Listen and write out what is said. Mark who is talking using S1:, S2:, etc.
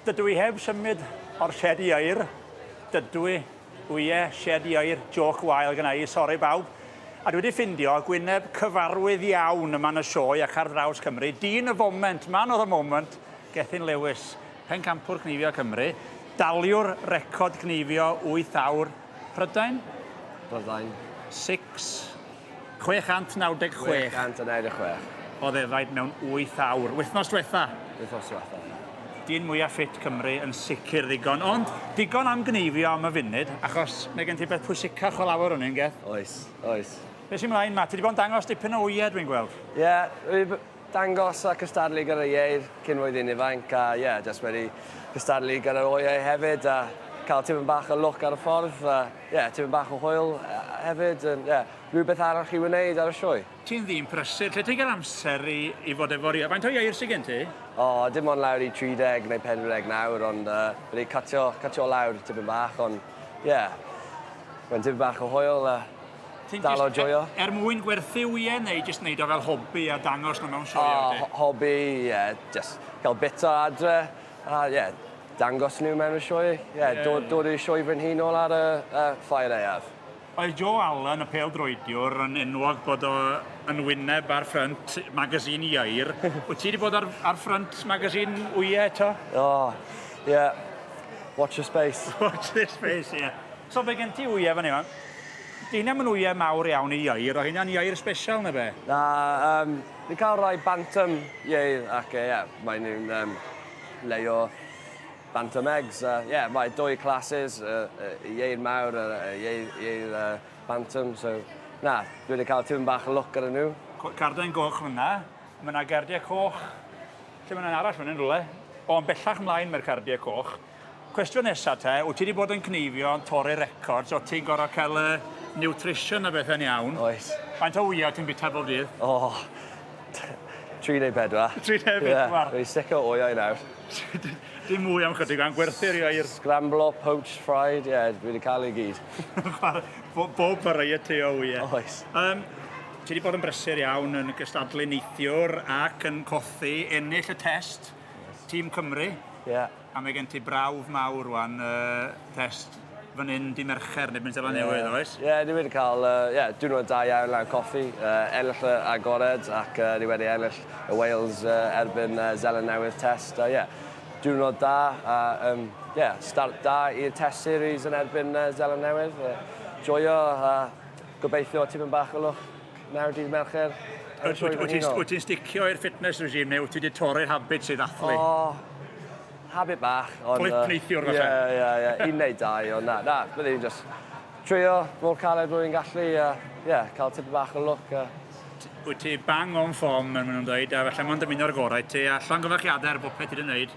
S1: Dydw i heb symud o'r sied i air. Dydw i. O ie, sied i air, jôc wael gynna i, sori bawb. A dwi wedi ffindio gwyneb cyfarwydd iawn yma yn y sioe ac ar draws Cymru. Dyn y foment, man of the moment, Gethin Lewis, pencampwr cneifio Cymru, daliwr record cneifio wyth awr, Prydain? Prydain.
S2: Six.
S1: 696.
S2: 696. O ddefaid
S1: mewn 8 awr. Wythnos dwetha. Wythnos dwetha, ie.
S2: Dyn mwya
S1: ffit Cymru yn sicr ddigon, ond digon am gneifio am y funud, achos mae gen ti beth pwysicach o lawr o'n un geth. Oes, oes.
S2: Be sy mlaen ma? Ti
S1: di bod yn dangos dipyn o wye dwi'n gweld. Ie,
S2: dangos a cystadlu gyda Ieir cyn oedd hi'n ifanc a ie, jyst wedi cystadlu gyda'r oeau hefyd a cael tipyn bach o lwc ar y ffordd a ie, tipyn bach o hwyl hefyd a ie, rhywbeth arall i wneud ar y sioe. Ti'n ddyn prysur,
S1: lle ti'n cael amser i i fod efo Rio? Faint o ieir sy gen ti? O, dim ond lawr
S2: i 30 neu 40 nawr ond yy wedi cytio cytio lawr tipyn bach ond ie, mae'n tipyn bach o hwyl a Ti'n dal o joio. E- er mwyn gwerthu
S1: wyau neu jyst wneud o fel hobi a dangos nhw mewn sioeau? Oh, ho hobi, ie. Yeah.
S2: Jyst cael bita adre. A ie, yeah, dangos nhw mewn y sioe. Ie, yeah, yeah, dod, dod i'r sioe fy nhîn ôl ar y, y ffair aeaf. Oedd Joe Allen,
S1: y pêl-droediwr, yn enwog bod o yn wyneb ar ffrynt magazine Ieir. Wyt ti wedi bod ar, ar ffrynt magazine wyau eto? O, oh,
S2: ie. Yeah. Watch your space. Watch this space,
S1: ie. Yeah. So be gen ti wyau fan yma? Dyna mae'n wyau mawr iawn i ieir, o hynna'n ieir special neu be? Na, um,
S2: ni'n cael rhai bantam ieir ac ie, yeah, mae nhw'n um, leio bantam eggs. Ie, uh, yeah, mae dwy classes, y uh, uh, ieir mawr a uh, ieir, ieir uh, bantam, so na, dwi wedi cael tîm bach o lwc ar nhw. Carden goch
S1: fyna, mae yna gardiau coch, lle mae yna arall fyna yn rhywle, o'n bellach mlaen mae'r cardiau coch. Cwestiwn nesa te, wt ti 'di bod yn cneifio yn torri records, o't ti'n gor'o' ca'l yy nutrition a bethe'n iawn? Oes. Faint o wya
S2: ti'n bita
S1: bob dydd? O!
S2: Tri neu bedwar. Tri neu bedwar?
S1: Ie, fi'n sic o wyau nawr.
S2: Dim
S1: mwy am chydig, mae'n gwerthu'r iau i'r... Scramblo, poached,
S2: fried, ie, dwi 'di ca'l e i gyd. Bo-
S1: bob variety o wya. Oes. Yym,
S2: ti 'di
S1: bod yn brysur iawn yn gystadlu neithiwr ac yn colli, ennill y test, tîm Cymru. Ie. A mae
S2: gen ti
S1: brawf mawr wan, yy, test fan hyn di Mercher neu Bentela Newydd, yeah. oes? Ie, yeah, ni wedi cael,
S2: uh, yeah, diwrnod da iawn lan coffi, uh, ennill y agored ac uh, ni wedi ennill y Wales uh, erbyn uh, Zeland Newydd test. Uh, yeah, diwrnod da a um, yeah, start da i'r test series yn erbyn uh, Zeland Newydd. Uh, joio a uh, gobeithio tipyn bach o lwch. Nawr dydd Mercher. Wyt
S1: ti'n sticio i'r fitness regime neu wyt ti wedi torri'r habit sydd athlu? O,
S2: habit bach. Clip uh, neithiwr falle?
S1: Ie, ie, ie. Un neu
S2: dau, ond na, na, bydd i'n just trio mor caled bod i'n gallu, a ie, yeah, cael tip bach o look. A... Wyt ti
S1: bang o'n ffom, yn mynd o'n dweud, a felly mae'n dymuno'r gorau ti, a llongyfarchiadau ar bopeth ti wedi gwneud.